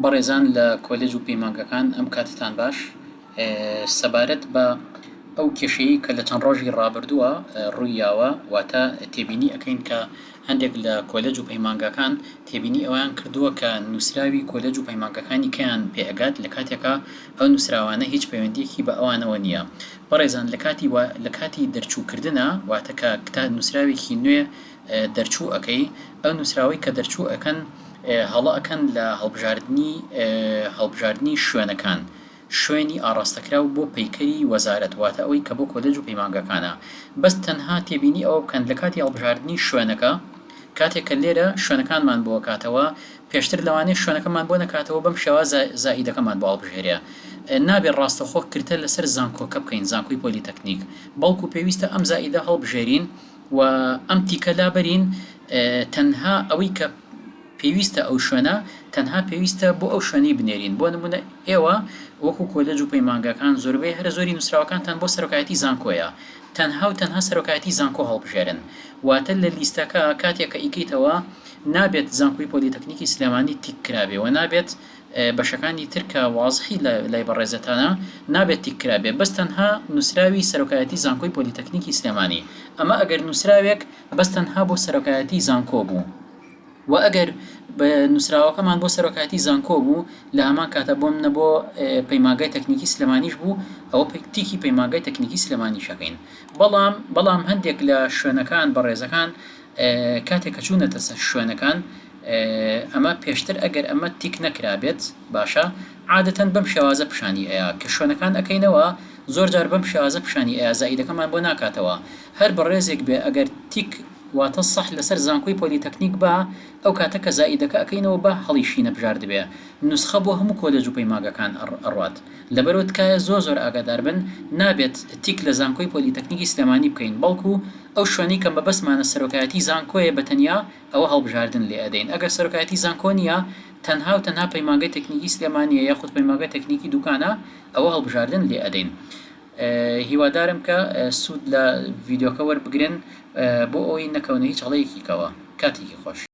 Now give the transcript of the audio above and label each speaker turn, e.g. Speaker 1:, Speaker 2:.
Speaker 1: بەڕێزان لە کۆلێج و پەیمانگەکان ئەم کاتتان باش سەبارەت بە ئەو کێشەیە کە لە چەند ڕۆژی ڕابردووە ڕوویاوە واتە تێبینی ئەەکەین کە هەندێک لە کۆلەج و پەیمانگەکان تێبینی ئەویان کردووە کە نووسراوی کۆلەج و پەیمانگەکانی کەیان پێگات لە کاتێکا ئەو نووسراوانە هیچ پەیوەندیەکی بە ئەوانەوە نییە بەڕێزان لە کاتی لە کاتی دەرچووکردە واتە کە کتاب نووسراوێکی نوێ دەرچوو ئەکەی ئەو نوسراوەی کە دەرچوو ئەکەن هەڵە ئەکەن لە هەڵبژاردنی هەڵبژاردنی شوێنەکان شوێنی ئاڕاستەکراو بۆ پەیکەری وەزارەت واتە ئەوەی کە بۆ کۆلێج و پەیمانگەکانە بەس تەنها تێبینی ئەوە بکەن لە کاتی هەڵبژاردنی شوێنەکە کاتێک کە لێرە شوێنەکانمان بۆ کاتەوە پێشتر لەوانەیە شوێنەکەمان بۆ نەکاتەوە بەم شێوازە زائیدەکەمان بۆ هەڵبژێرێ نابێ ڕاستەخۆ کرتە لەسەر زانکۆکە بکەین زانکۆی پۆلیتەکنیک بەڵکو پێویستە ئەم زائیدە هەڵبژێرین و ئەم تیکە لابەرین تەنها ئەوەی کە پێویستە ئەو شوێنە تەنها پێویستە بۆ ئەو شوێنەی بنێرین بۆ نمونە ئێوە وەکو کۆلێج و پەیمانگاکان زۆربەی هەرە زۆری نووسراوەکانتان بۆ سەرۆکایەتی زانکۆیە تەنها و تەنها سەرۆکایەتی زانکۆ هەڵبژێرن واتە لە لیستەکە کاتێک کە ئیکەیتەوە نابێت زانکۆی پۆلیتەکنیکی سلێمانی تیک کرابێ وە نابێت بەشەکانی تر کە وازحی لای بەڕێزتانە نابێت تیک کرابێ بەس تەنها نوسراوی سەرۆکایەتی زانکۆی پۆلیتەکنیکی سلێمانی ئەمە ئەگەر نوسراوێک بەس تەنها بۆ سەرۆکایەتی زانکۆ بوو وە ئەگەر نوسراوەکەمان بۆ سەرۆکایەتی زانکۆ بوو لە هەمان کاتا بۆ منە بۆ پەیمانگای تەکنیکی سلێمانیش بوو ئەوە تیکی پەیمانگای تەکنیکی سلێمانیش ئەکەین بەڵام بەڵام هەندێک لە شوێنەکان بەڕێزەکان کاتێک کە چوونەتە سەر شوێنەکان ئەمە پێشتر ئەگەر ئەمە تیک نەکرابێت باشە عادەتەن بەم شێوازە پیشانی ئەیا کە شوێنەکان ئەکەینەوە زۆر جار بەم شێوازە پیشانی ئەیا زائیدەکەمان بۆ ناکاتەوە هەر بەڕێزێک بێ ئەگەر تیک واتە صح لەسەر زانکۆی پۆلیتەکنیک با ئەو کاتە کە زائیدەکە ئەکەینەوە با هەڵیشینەبژاردبێ نوسخە بۆ هەموو کۆلێج و پەیماگەکان ئەڕوات. لەبەرئەوە تکایە زۆر زۆر ئاگادار بن نابێت تیک لە زانکۆی پۆلیتەکنیکی سلێمانی بکەین بەڵکو ئەو شوێنەی کە مەبەستمانە سەرۆکایەتی زانکۆیە بە تەنیا ئەوە هەڵبژاردن لێ ئەدەین ئەگەر سەرۆکایەتی زانکۆ نیە تەنها و تەنها پەیمانگەی تەکنیکی سلێمانیە یاخود پەیمانگەی تەکنیکی دوکانە ئەوە هەڵبژاردن لێ ئەدەین هیوادارم کە سود لە ڤیدۆکە وەربگرن بۆ ئەوەی نەکەونە هیچ هەڵەیەکیکەوە کاتێکی خۆش.